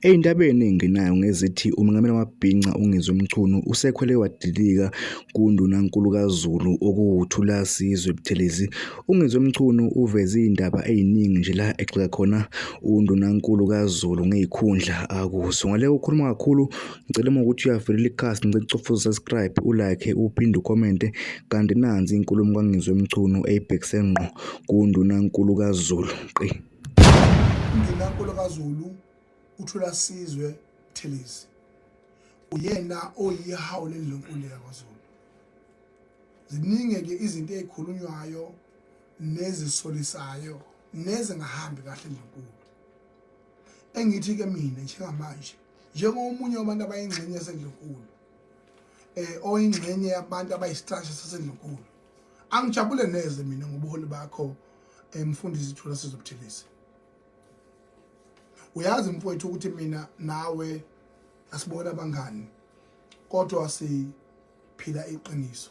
Ey'ndaba ey'ningi nayo ngezithi uMengameli wamabhinca uNgizwe Mchunu usekhwele wadilika kuNdunankulu kaZulu okuwuThulasizwe Buthelezi. UNgizwe Mchunu uveze iy'ndaba ey'ningi nje la egxeka khona uNdunankulu kaZulu ngey'khundla akuso. Ngale ukhuluma kakhulu ngicela uma ukuthi uyavelela ikhasi ngicela ucofa usubscribe ulike uphinde ukomente kanti nansi inkulumo kaNgizwe Mchunu eyibhekise ngqo kuNdunankulu kaZulu. Qi. Undunankulu kaZulu uThula Sizwe Buthelezi uyena oyihawu lendlunkulu yakwaZulu. Ziningi-ke izinto ey'khulunywayo nezisolisayo nezingahambi kahle endlunkulu. Engithi-ke mina njengamanje njengomunye wabantu abayingxenye yasendlunkulu um oyingxenye yabantu abayisitasha sasendlunkulu angijabule neze mina ngobuholi bakho emfundisi eh, ithulo sizobuthelisa uyazi mfowethu ukuthi mina nawe asibona abangani kodwa siphila iqiniso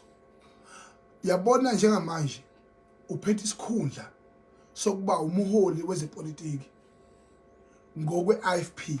yabona njengamanje uphethe isikhundla sokuba umholi wezepolitiki ngokwe-IFP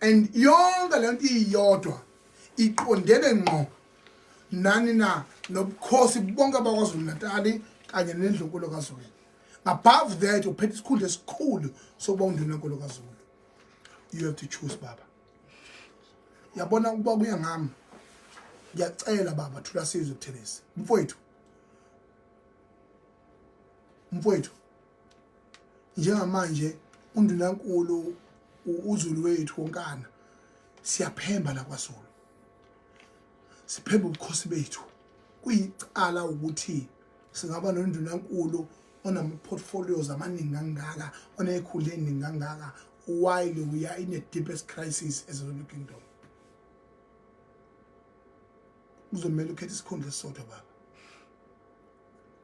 and yonke lento iyodwa iqondene ngqo nani na nobukhosi bonke bakwaZulu Natali kanye nendlunkulu kaZulu above that uphethe isikhundla esikhulu sokuba undunankulu kaZulu you have to choose baba yabona ukuba kuya ngami ngiyacela baba thula sizwe kuthelezi mfowethu mfowethu njengamanje undunankulu uzulu wethu wonkana siyaphemba la kwazulu siphemba ubukhosi bethu kuyicala ukuthi singaba nondunankulu onama-portfolios amaningi kangaka onekhulu eningi kangaka while we are in a deepest crisis as a kingdom kuzomele ukhethe isikhundla esisodwa baba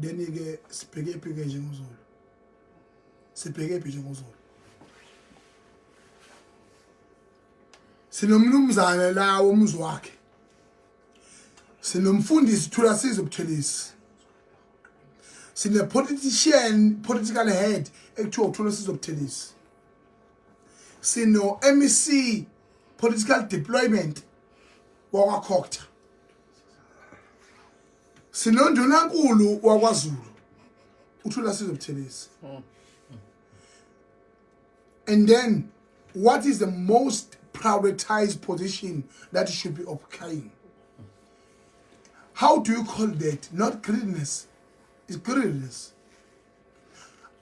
then ke sibheke phi ke njengozulu sibheke phi njengozulu sinomnumzane la womzi wakhe sinomfundisi thula size ubuthelisi sine politician political head ekuthiwa uthula size ubuthelisi sino MEC political deployment wakwakhokta sinondunankulu wakwazulu uthula sizo buthelezi and then what is the most prioritized position that should be occupying how do you call that not greediness is greediness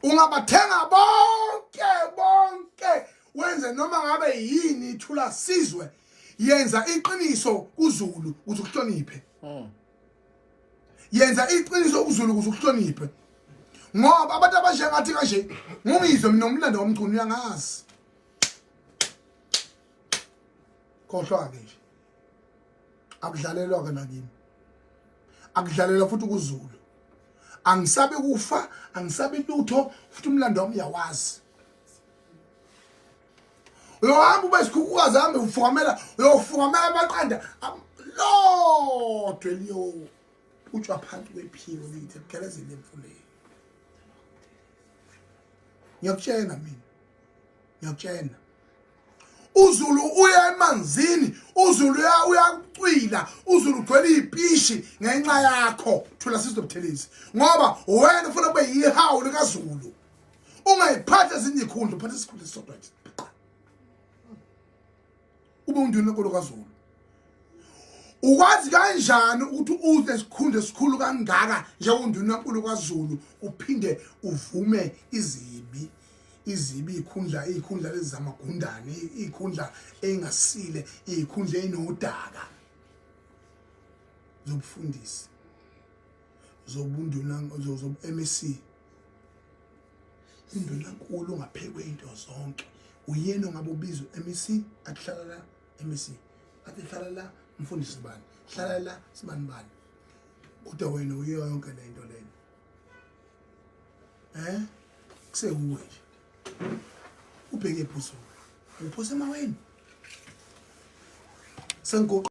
ungabathenga bonke bonke wenze noma ngabe yini ithula sizwe yenza iqiniso kuzulu ukuthi uhloniphe mm. yenza iqiniso ukuzulu ukuze ukuhloniphe ngoba abantu abasha ngathi kanje ngungizwe mina umlando womculo uyangazi khohlwa-ke nje akudlalelwa-ke nakimi akudlalelwa futhi ukuzulu angisabe kufa angisabe lutho futhi umlando wami uyawazi uyohamba ube sikhukhukazi hambe ufukamela uyofukamela amaqanda lodwa eliyowo utshwa phansi kwephiwo lithi ebugelezini emfuleni ngiyakutshena mina ngiyakutshena uzulu uya emanzini uzulu uya uyakucwila uzulu ugcwele ipishi ngenxa yakho thula sizobuthelezi ngoba wena ufuna kube yihawu likazulu ungayiphatha ezinye ikhundla uphatha isikhundla esisodwa nje ube undini lenkolo kazulu ukwazi kanjani ukuthi udle isikhundla esikhulu kangaka njengonduna nkulu kwazulu uphinde uvume izibi izibi ikhundla ikhundla lezamagundane ikhundla engasile ikhundla enodaka zobufundisi zobunduna zobu-MEC Indunankulu ungaphekwe into zonke uyena ongabe ubizwe MEC akuhlala la MEC athi hlala la mfundisi bani hlala la sibani bani kodwa wena uyiyo yonke le nto lena eh kusewuwe nje ubheke ebhuzo uphose emaweni sengoqo